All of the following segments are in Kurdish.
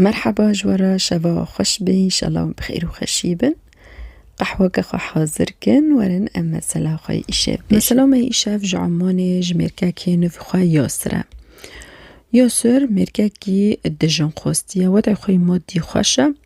Merheba ji we re şeva xweş be înşela bi xêr û xweşî bin. Qehweke xwe hazir kin werin em mesela xwe yê îşev bêjin. Mesela me îşev ji Emanê ji mêrkekê nivî xwe Yasir e. Yasir mêrkekî dijinxwestiye, wede xwe yê madî xweş e,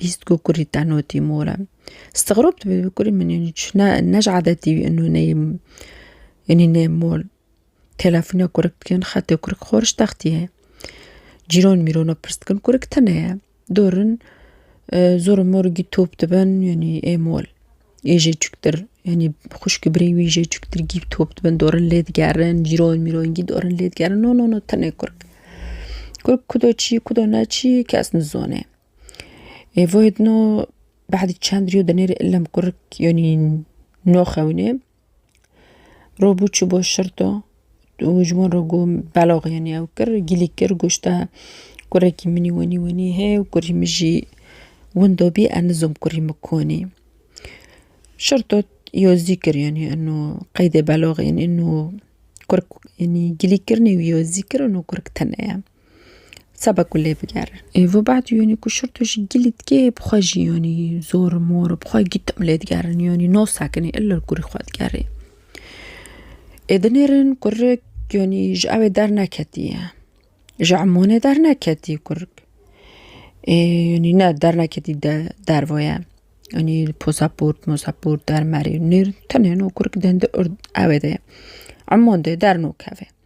Bîst ku kurî te notî more. Stixrob dibî bi kurî min yanî çi ne ne ji edetî wî ino neyê yanî nê mol. Telefona kurik dikin xetê kurik xoriş textî ye. Cîran mîrana pirs dikin kurik tune ye. Dorin zor û mor gî top dibin yanî ê mol. Ê jê çuktir yanî xwişk û birêng wî jê çuktir gî top dibin dorin lê digerin cîran mîran gî dorin lê digerin no no no tune kurik. Kurik kudo çî kudo ne çî kes nizane. Êvo yê din o behdî çend rîyo dinêr î illem kurik yanî no xewnê ro bû çi bo şirto û ji wan re got belox yanî ew kir gîlî kir got te kurekî min î wenî wenî hê û kurî min jî windo bî ez nizom kurî min konî şirto îyo zî kir yanî ino qeydê beloxê yanî ino kurik yanî gîlî kirnî wîyo zî kir ino kurik tune ye. Seba ku lê bigerin. Ê vê bad yanî ku şirto jî gilî dike bi xwe jî yanî zor mor bi xwe gitim lê digerin yanî no sekinî illa kurî xwe digerê. Ê dinêrin kurik yanî ji ew ê derneketiye ji emanê derneketî kurik ê yanî ne derneketî de derve ye yanî posaport mosaport dermarî nêrîn tenê no kurik dende ewê de ye eman de dernakeve.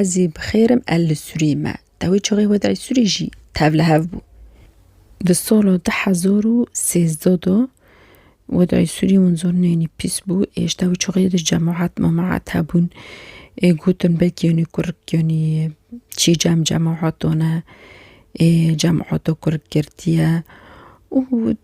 Ez jî bi xêr im e li Sûriyê me. Dawê çaxê xwe dayê Sûriyê jî tev li hev bû. Di sala du hezar û sêzdeh de we dayê Sûriyê hûn zor neyênî pîs bû. Êj dawê çaxê de cemaet memaet hebûn. Ê gotin belkî yanî kurik yanî çî cem cemaet dane. Ê cemaeta kurik girtiye û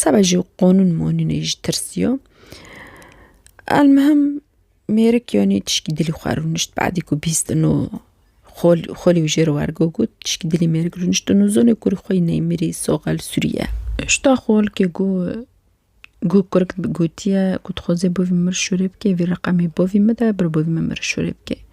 Seba jî qanûn manûnê jî tirsiya. Elmihim mêrik yanî tişkî dilî xwe rûnişt badî ku bîst û no xol xolî wî jê re wergo got tişkî dilî mêrik rûnişt û nûzanê ku rûxê wî neyê mirî soxel sûrî ye. Hişta xol ke ku ku kurik gotiye ku dixwaze bavê min mir şûrê bike vê reqemê bavê min de bir bavê min mir şûrê bike.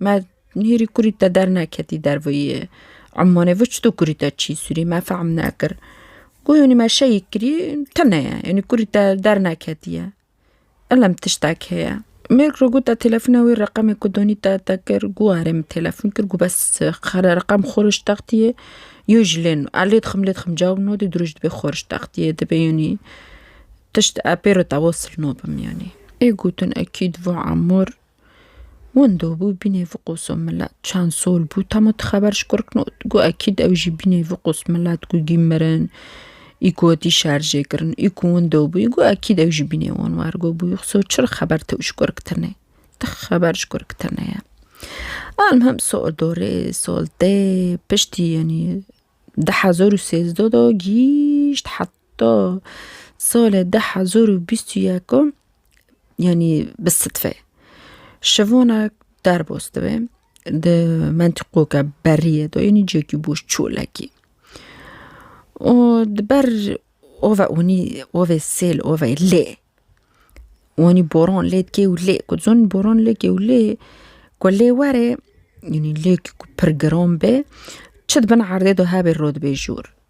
Me hêrî kurî te derneketî derveyî emanê vi çito kurî te çî sûrî me fehm nekir. Guhênî me şeyî kirî tine ye enî kurî te derneketiye. Elem tiştek heye. Mêrg ro gota telefona wê reqemê ku donî te te kir gu erê min telefon kir gu bes xera reqem xorij textîyê yo ji lêno a lêdixim lêdixim cawb nodê diroj dibê xorij textîyê dibê yanî tişt epê ro te wasil nobim yanî. Ê gotin ekîd va emor. Winda bû bînê viqosa milet çend sal bû temo tu xeber ji kurk not. Gu ekîd ew jî bînê viqos milet ku gî mirin ê ku hatî şerjê kirin ê ku winda bû ê ku ekîd ew jî bînê wan wergo bû xso çi re xeber tew ji kurk tine tu xeber ji kurk tine ye. Almihim sal do rê sal tê piştî yanî di hezar û sêzdeh de gîşt heta Ta salê du hezar û bîst û yek yanî bi sidfe şivanek derbas dibe di mentiqoke berriyê de yanî cihekî boş çolekî û di ber ava onî avê sêl avê lê wanî boran lê dikê û lê ku dizanî boran lê dikê û lê ku lê were yanî lêk ku pir giran be çi di bin erdê de hebê rûdibê jûr.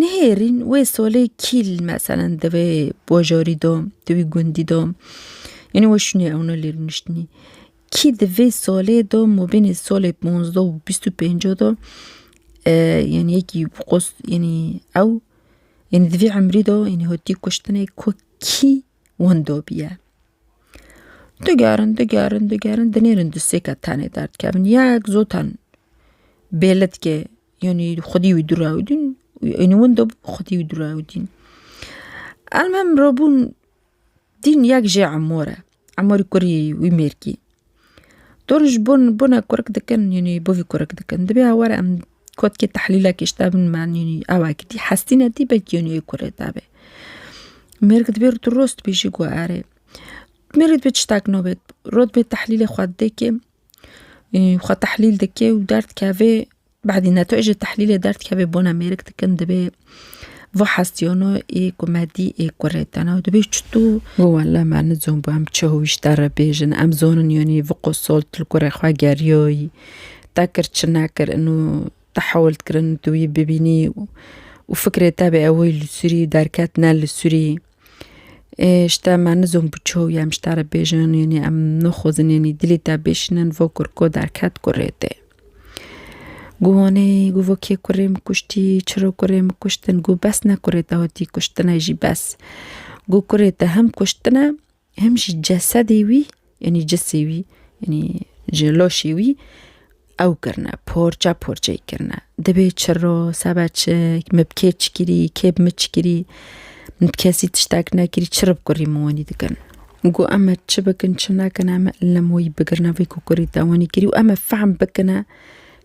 Nihêrîn wê solê kîl meselen di wê bajarî de, di wî gundî de yanî we şûnê ewna li rûniştinî. Kî di vê solê de mabênê solê panzdeh û bîst û pênce de yanî yekî qos yanî ew yanî di vê emrî de yanî hatî kuştinê ku kî wenda bûye. Digerin digerin digerin dinêrin du sê ke tenê derdkevin. Yek zotan bêlit ke Yanî xwedî wî durawdîn ênî winda xwedî wî durawdîn. Elmem rabûn dîn yek jê emore emorî kurî wî mêrkî. Dor ji bo bone kurik dikin yanî bo vî kurik dikin dibê ew were em kotkê tehlîlekê ji te bin me yanî ew eke tî hestî ne tî belkî yanî yê kurê te be. Mêrik dibê tu rost bêjî ku erê mêrê dibê tiştek nabê rot bê tehlîlê xwe dikê Xwe tehlîl dike û derdikeve bedî netij ê tehlîlê derdikeve bona mêrik dikin divê vê hestiyano ê ku me dî ê kurê te ne û dibê çitû wê wele me nizon bû em çi hûwîşte re bêjin em zonin yanî vê qosolt li kurê xwe geriyoyî te kir çi nekir inû te hewil dikirin tu wî bibînî û fikrê te bê ew wê li sûrî derket ne li sûrî. Ê ji te me nizûm bi çaw ye em ji te re bêjin yanî em nixwazin yanî dilê te bişînin vo kurko derket kurê tê. Gu hûnê gu vo kê kurê min kuştî çiro kurê min kuştin gu bes ne kurê te hatî kuştinê jî bes. Gu kurê te hem kuştine Hem jî cesedê wî yanî cisê wî yanî ji laşê wî ew kirine parça parçeyê kirine. Dibê çiro sebe çi min bi kê çi kirî kê bi min çi kirî min bi kesî tiştek nekirî çi rib kurî min wenî dikin. Got em me çi bikin çi nekin em li me wî bigirine vê ku kurî te wenî kirî û em ê fehm bikine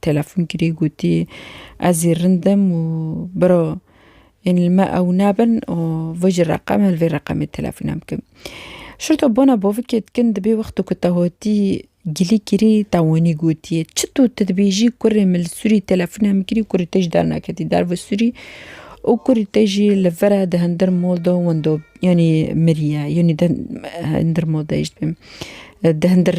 Telefon kirî gotî ez zî rind im û biro yên li me ew nebin û vir ji reqem li vê reqemê telefona bikim. Şurto bona bovikê dikin di bê wexto ku te hotî gilî kirî te wanî gotî çi tu tu dibêjî kurê min li sûrî telefona min kirî kurê te jî dernaketî derve sûrî û kurê te jî li vir e di hindir mol de winda yanî mirî ye yanî di hindir mol de dijî dibêjim di hindir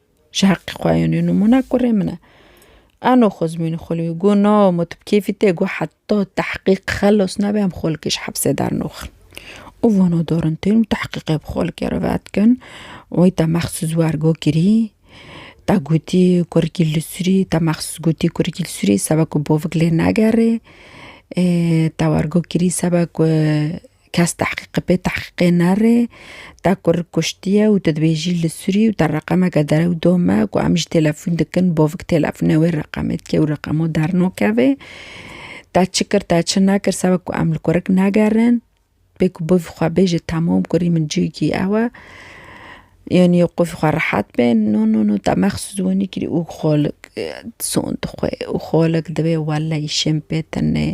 Ji heqê xwe yên û nimûna kurê min e. Ano Xozmîn Xulwî got, Na, ma tu bi kêfî tê got heta tehqîq xelos nebe em xolkê ji hepsê dernûxin. Û vana darin tên û tehqîqê bi xolkê re vedikin. Wê te mexsûs wergo kirî, te gotî kurikî li sûrî, te mexsûs gotî kurikî li sûrî sebe ku bavik lê negerê. Ê te wergo kirî sebe ku Kes tehqîqê pê tehqîqê nere, te ku rik kuştiye û tu dibê jî li Sûrî û te reqemeke derew dome ku em ji têlefûn dikin bovik têlefûnê wê reqemê dike û reqemo dernakeve. Te çi kir te çi nekir sebek ku em li ku rik negerin, pê ku bovî xwe bêje temam kurî min cihekî ew e. Yanî qûfî xwe rehet be no no no te mexsûs wenî kirî û xolik son dixwe û xolik dibe welleyî şên pê tune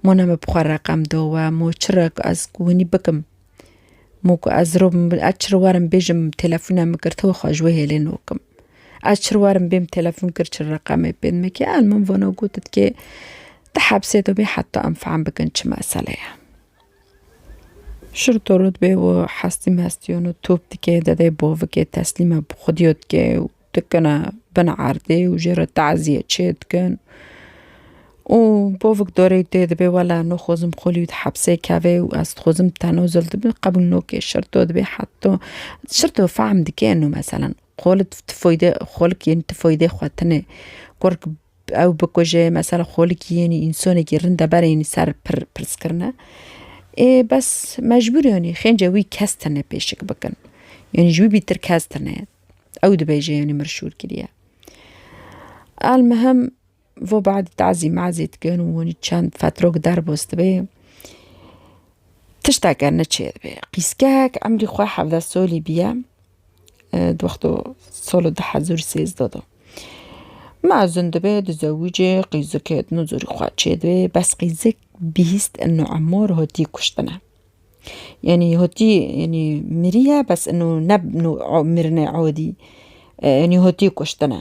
mona min bi xwe reqem do we mo çi re ku ez ku wenî bikim mo ku ez rûm ez çi re werim bêjim telefona min kir tu xwe ji wê hêlê nakim ez çi re werim bêm telefon kir çi reqemê pê dime kê ez min vana got dikê tu hebsê de bî heta em fehm bikin çi mesele ye. Şir torot bê û hestî mestî û no top dike, dedê bovikê teslîma bi xwedîyo dike û dikine bin erdê û jê re tazîye çê dikin û bovik dorê tê dibê wela no xwezim xwelî di hepsê kevê û ez dixwezim tenozil dibim qebûl nokê şir to dibê heta şir to fehm dike no meselan xwelid tifoyde xwelik yên tifoyde xwe tine kurk Ew bikuje mesela xolikî yenî însanekî rind e berê yenî ser pir pirskrine. Ê bes mecbûr yenî xênce wî kes tine pêşik bikin. Yenî ji wî bîtir kes tine. Ew dibêje yenî mir şûr kiriye. El mihim vo badî tazî mazî dikin û wenî çend fetrok derbos dibe. Tişteke neçêr be. Qîskek emrî xwe hevde solî biye. di wexto solo di hezar û sêzdeh de mezin dibe dizewicê qîzikê dino zorî xwe çêdibê bes qîzik bîst ino emar hatî kuştine. Yanî hatî yanî miriye bes ino ne mirinê adî yanî hatî kuştine.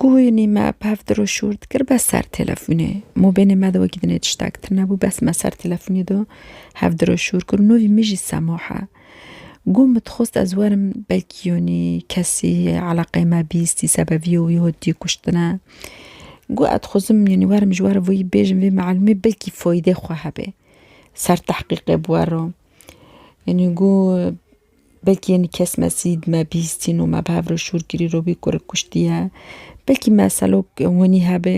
Guhînî me bi hev dir û şûr dikir bes ser telefonê. Mobênê me de wekî dinê tiştek tune bû bes me ser telefonê de hev dir û şûr kir û nûvî min jî sema he. Guh min dixwest ez werim belkî yûnî kesî eleqê me bîstî sebevîyê wî hotî kuştine. Guh ez dixwazim yûnî werim ji were wî bêjim vê meelûmê belkî feyîdê xwe hebe. Ser tehqîqê bi were. Yûnî guh Belkî yenî kes me sîd, me bîstîn û me bi hev re şûr kirî ro bî ku rik kuştiye. Belkî me selok hûnî hebê.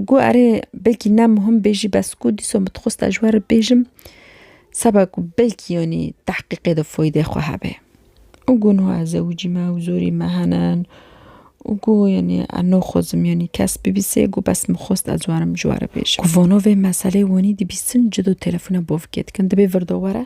Got erê belkî ne muhim bê jî bes ku dîso min dixwesta ji we re bêjim seba ku belkî yenî tehqîqê de foydê xwe hebe. Û got niha ez zewicî me û zorî me henin û got yenî ez naxwazim yenî kes bibîsê got bes min xwest ez werim ji we re bêjim. Ku vana vê meseleyê wenî dibîstin cido telefona bavkê dikin dibê vir de were.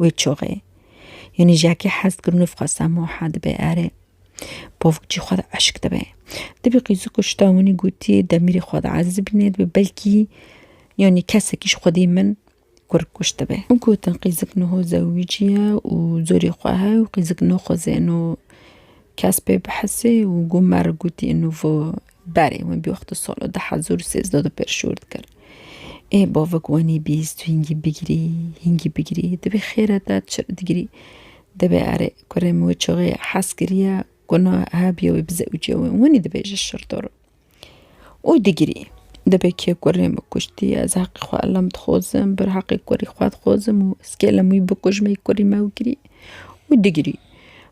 Wê çûxê. Yanî jiyakî hez dikir nû fixwasa moha dibê erê. Povik jî xwe di eşk dibê. Dibê qîzik û şita winî gotiyê demîrê xwe di ezî bînê dibê belkî yanî kesekî ji xwedî min kurg kuşt dibê. Û gotin qîzik niho zewicî ye û zorê xwe heye û qîzik nixweze ino kes pê bihesê û got merg gotî ino vo Berê wê bîyox di sala du hezar û sêzdeh de pêşor dikir. Ê bavik wenî bîst hîngî bigirî, hîngî bigirî, dibê xêre te çi digirî? Dibê erê kurê min wê çixê hez kiriye ku na hebîye wê bi zewicê wê winî dibêje şirtor. Û digirî. Dibê kê kurê min kuştî ez heqê xwe elam dixwazim, bir heqê kurî xwe dixwazim û ez kêlem wî bikujmê kurî me wikirî û digirî.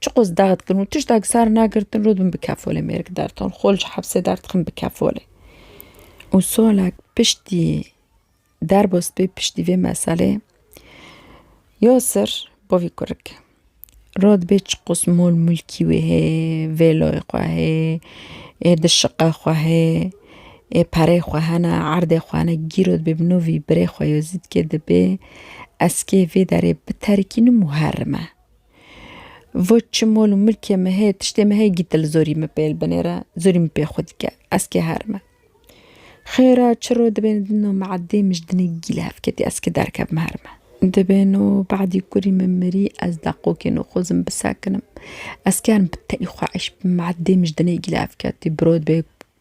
Çi qos dax dikin û tişt dax sar nagirtin rû dibin bi kefolê mêrik derton xol ji hepsê derdixin bi kefolê. Û solek piştî derbo spî piştî vê meselê Yasir bavî kurik rû dibê çi qos mol mulkî wê hê vêloyê xwe hê ê di şiqe xwe hê ê perê xwe hene erdê xwe hene gîr rû dibê bi no vî birê xwe yo zî dikê dibê eskê vê derê biterikînim û herime. Vo çi mol û milkê me heye, tiştê me heye gîte li zorî min pêl binêre, zorî min pê xwe dike, ez kê her me. Xêra çiro dibêne din û meedê min ji dinê gîl hev ketî, ez kê derkevim her me. Dibêne û badî kurî min mirî, ez deqokê nû xwezim bisekinim. Ez kê herim bi teyî xwe eyş bikim, meedê min ji dinê gîl hev ketî, birod bê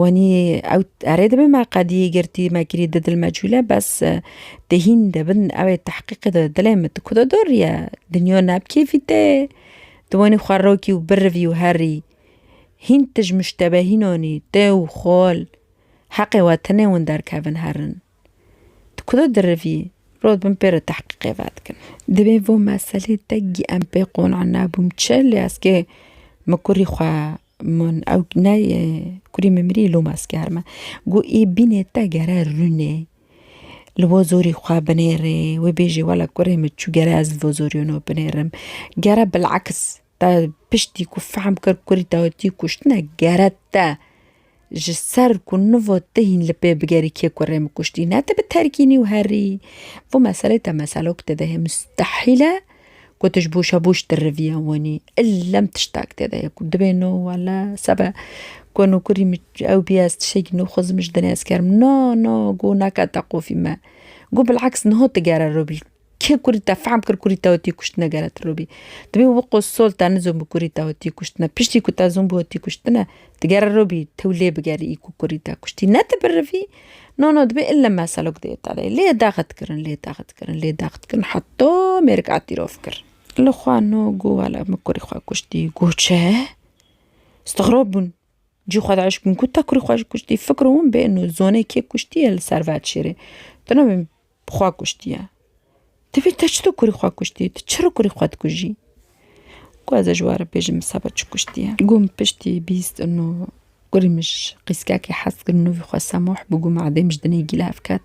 Wanî ew erê dibe me qedî girtî me kirî di dil me çûle bes tê hîn de bin ew ê tehqîqe di dilê min di ku de dor ye dinya ne bi kêfî te ye tu wanî xwe rokî û birivî û herî hîn tij muştebehînan î te û xal heqê we tine hûn derkevin herin. Di kuda dirivî, rot bin pê re tehqîqê vedikin. Divê vo meselê tekgî em pê qona nebûm çi lê ez kê min kurî xwe min ew neyê kurî min mirî lom ez kerime. Gu ê bînê te gere rûnê li vo zorî xwe binêrê wê bêjê wele kurê min çû gere ez li vo zorî wino binêrim gere bil'aks. Te piştî ku fehm kir kurî te tî kuştine gere te ji ser ku niva te hîn li pê bigerî kê ku rê min kuştî ne te bi terkînî û herî vî meselê te meselo ku te dihê mustehîl e ku tu ji boşa boş di rivîya wanî illem tiştek tê de ye ku dibê no wele sebe ku no kurî min ew bî ez tiştekî no xwezim ji dinê ez kerim na na got neke te qofî me got bil'aks niha tu gere rûbl Kê kurî te fehm kir kurî te hotî kuştine gere tu robî? Tu bî wi qo sol te nizon bi kurî te hotî kuştine. Piştî ku te zon bi hotî kuştine tu gere robî tew lê bigerî î ku kurî te kuştî. Ne tu birivî no no dibê ille meselok di îtaleyê lê daxit kirin lê daxit kirin lê daxit kirin heta mêrik etîrof kir. Li xwe no goh wele min kurî xwe kuştî. Goh çi? Stixrob bûn Cî xwe daîş min got, te kurê xwe ji kuştî fikro win bê û zonê kê kuştiye li ser Vedşêrê. Tu ne wê bi xwe kuştiye. Divê te çito kurê xwe kuştî, tu çiro kurê xwe dikujî. Got ez ê ji we re bêjim seba çi kuştiye. Got min piştî bîst û kurê min ji qîskekê hez kir û nûvî xwe Semoh bû got min edê min ji dinê gîlav ket.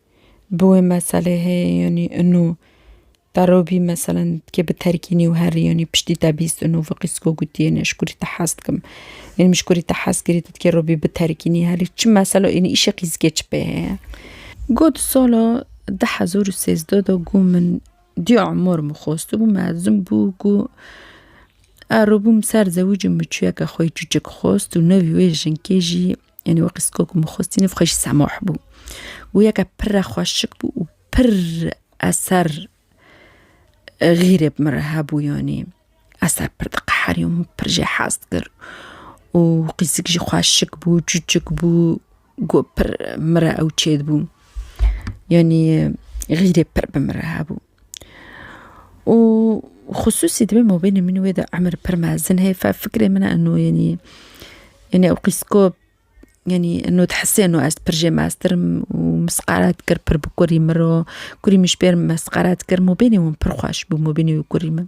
bi wê meselê heye yanî ino te re bî meselen ke bi terkînî û herî yanî piştî te bîst ino vê qîsgo gotiyê ne ji kurî te hez dikim yanî min ji kurî te hez kirî te dikê re bî bi terkînî herî çi meselo yanî îşê qîzgê çi pê heye. Got sala du hezar û sêzdeh de ku min diya Umar min xwestibû mezin bû ku eribûm ser zewicê min çiyeke xwe yê çûçik xwest û nevî wê jinkê jî Yanî wekî siko ku min xwestî ne xwe jî semah bû. Goyeke pir re xweşik bû û pir eser xîrê bi min re hebû yanî. Eser pir diqeherî û min pir jê hez dikir û qîsik jî xweşik bû, çûçik bû ku pir min re ew çêdibû. Yanî xîrê pir bi min re hebû. û xusûsî divê mabênê min û wê de emir pir mezin heye fe fikrê min e eno yenî yenî ew qîz ku yenî eno dihise eno ez pir jê meztir im û misqala dikir pir bi kurî min re kurî min ji pê re mesqala dikir mabênê wan pir xweş bû mabênê wî kurî min.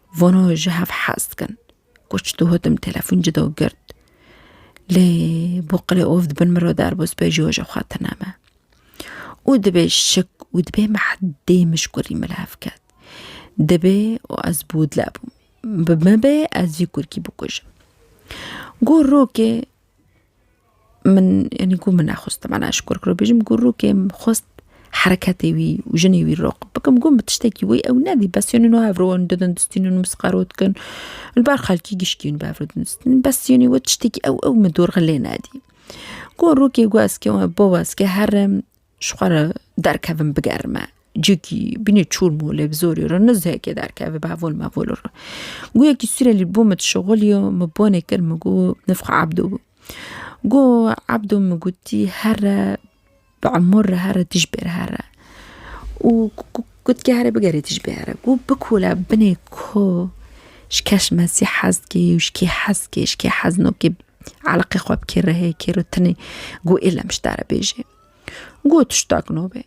Vano ji hev hez dikin. Koç dihotim telefon ci do girt. Lê bo qilê of dibin min re derbo spê ji hoja xwe tineme. û dibê şik û dibê me heddê mişkurî min hev ket dibê û ez bûdle bûm bi me bê ez vî kurkî bikujim got rokê Min yanî ku min nexwest temena ji kur kir û bêjim ku rûkê min xwest hereketê wî û jinê wî rok bikim ku min tiştekî wê ew nedî bes yanî no hev re wan didin distînin û msqero dikin li ber xelkî gişkîn bi hev re didin distînin bes yanî wê tiştekî ew ew min dorxelê nedî. Ku rûkê ku ez kêm bû ez ke herim Ji xwe re derkevin bigerime. Cikî, bînê çûr mû lê bi zorî re nizhekê derkevê bi hevol mevol re. Guyekî Sûrelî bo min dişixulî û min bonê kir min got nivx Ebdo bû. Got Ebdo min gotî here bi emûr re here tij bêr here û gotkî herê bigerê tij bê here. Got bikole binê ko ji keş mezî hez dikê û ji kê hez dikê ji kê hez nokê eleqê xwe bikê rihê kêro tinê got êlem ji te re bêje. Gû tiştak no be.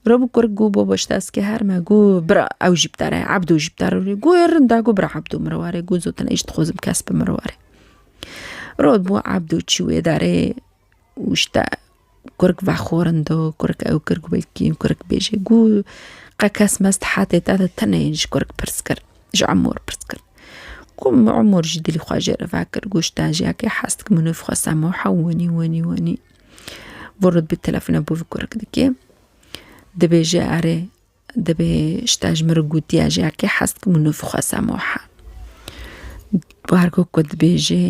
Rabû kurk gû bo baş dest ke her me gû bira ew jî bidere ebdû jî bidere rû gû ê rinda gû bira ebdû min ware gû zotin êj dixwazim kes bi min ware. Rod bû ebdû çî wê derê û işte kurk vexorindi kurk ew kir gulkî kurk bêjê gû qe kes mest hetê te de tenê ji kurk pirs kir ji emor pirs kir. Ku emor jî dilî xwe jê re vekir gûşte jiyakê hest kimin û xwe semo hewinî wenî wenî. Vorut bi telefona bû vi kurik dikê. Dibêje erê dibê şta ji min re gotiya ji erkê hez dikim û nivixwesa moha. Bargo ku dibêje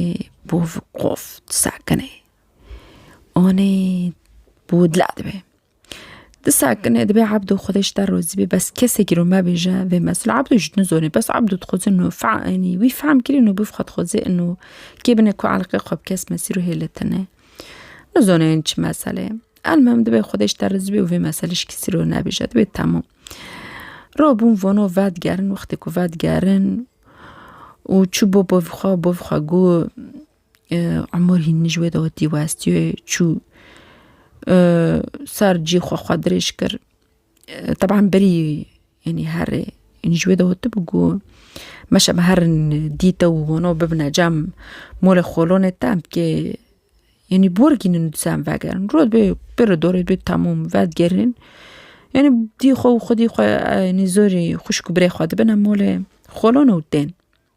bû vi qof sakinê. Anê bû dila dibe. Di sakinê dibê Abdû xwedê ji te rozî bê bes kesekî ro mebêje vê mesul Abdû ji nizonê bes Abdû dixweze nû fenî wî fehm kirî nû bif xwe dixweze nû kê bine ku eleqê xwe bi kes mesî ro hêle tine. Nizonê yên çi mesele ye. Elmim dibê xwedê ji te rizî bê û vê meselê ji kesî ro nebêje dibê temû. Ro bûn vono vedigerin wextê ku vedigerin û çû bo bo xwe bo xwe got Umur hîn min ji wê de wetî we ez tîyê çû ser cî xwe xwe dirêj kir teban berî yanî herê yanî ji wê de wetibû ku meşe me herin dî te û hûno bibine cem molê xolonê te em tikê yanî bi wir gînin disa em vegerin rûdê bê pir û dorê bê temûm vedigerîn yanî dî xwe û xwedî xwe yanî zorî xwişk û birê xwe dibine molê xolon û tên.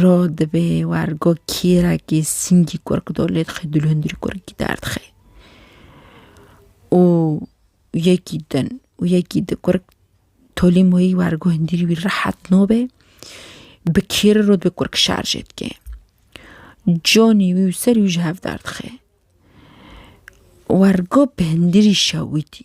Ro dibê wergo kîrekî singî kurk do lê dixê dû li hundirî kurkî derdixê û yekî din û yekî di kurk tolî moyî wergo hundirî wî rehet nobê bi kîri ro dibê kurk şerjê dikê conî wî û serî wî ji hev derdixê wergo bi hundirî şewitî.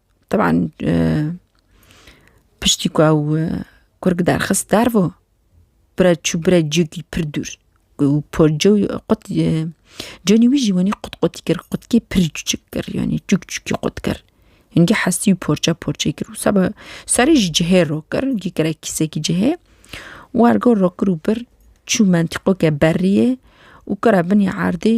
Teban piştî ku ew kurg derxist dervo bire çû bire cêkî pir dûr û porcû qut conî wî jî wenî qut qutî kir qutkê pir çûçik kir yanî çûk çûkî qut kir hingî hestî û porça porçe kir û seba serê jî cihê rok kir gî kire kîsekî cihê wergo rok kir û bir çû mentîqoke berriyê û kira binî erdê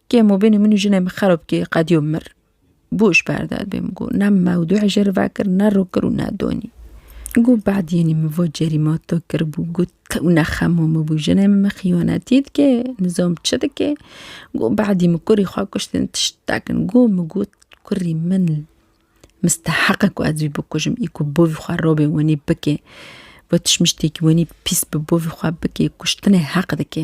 Kê mo bênê min û jinê min xerob kê qediyo mir. Boş berdad bê min got ne mewdu hijêr vekir ne ro kir û ne donî. Got bediyenî min va cerî ma to kiribû got tew ne xema min bû jinê min min xiyanetî dike nizam çi dike got bedî min kurî xwe kuştin tiştek in got min got kurî min misteheq e ku ez wî bikujim ê ku bavê xwe rabê wenî bike va tişmiştêkî wenî pîs bi bavê xwe bike kuştinê heq dike.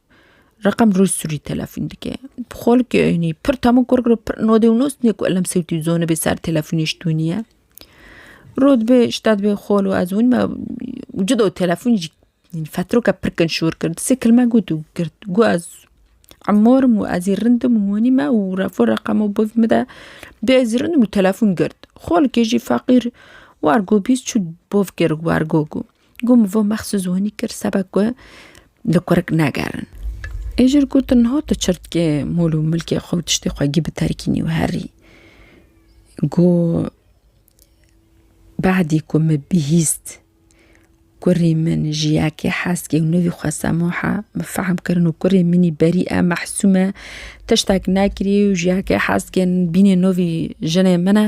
Reqem roj surî telefûn dike. Xol ki eynî pir tamû kor kiro pir nodê û nos nê ku elem sewtî zone bê ser telefûnê ji dû nîye. Rod bê şta dibê xol û ez hûnîme û cida û telefûnê jî fetroke pir kin şor kir. Di sê kilme got û girt. Got ez emor im û ez ê rind im û hûnîme û refû reqemo biv mide. Bê ez rind im û telefûn girt. Xol ki jî feqîr war got bîst çû biv kir war got ku. Gû min vê mexsûs hûnî kir seba ku li kurik negerin. Ê jir gotin niha tu çirtkê mol û milkê xwe û tiştê xwe gî biterkînî û herî. Gû bahdî ku min bihîst kurî min ji yekê heskê û nivî xwe Semûh e, min fehm kirin û kurê min î berî e Mehsûm e tiştek nekirî û ji yekê heskê bînê nivî jinê min e.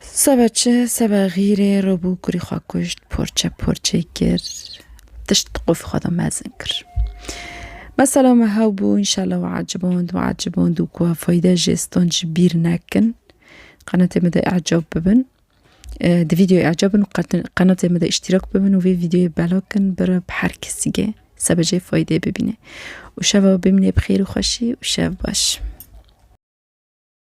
Seba çi, seba xîrê robû kurî xwe kuşt, porçe porçe kir, tişt di qofê xwe de mezin kir. Mesela me hew bû înşallah we eciband we eciband û ku fayde jê stan ji bîr nekin. Qenatê me de ecab bibin. Di videoyê ecab bin û qenatê me de îştîrak bibin û vê videoyê bela kin bira bi her kesigê seba jê faydê bibîne. Û şeva bimîne bi xêr û xweşî û şev baş.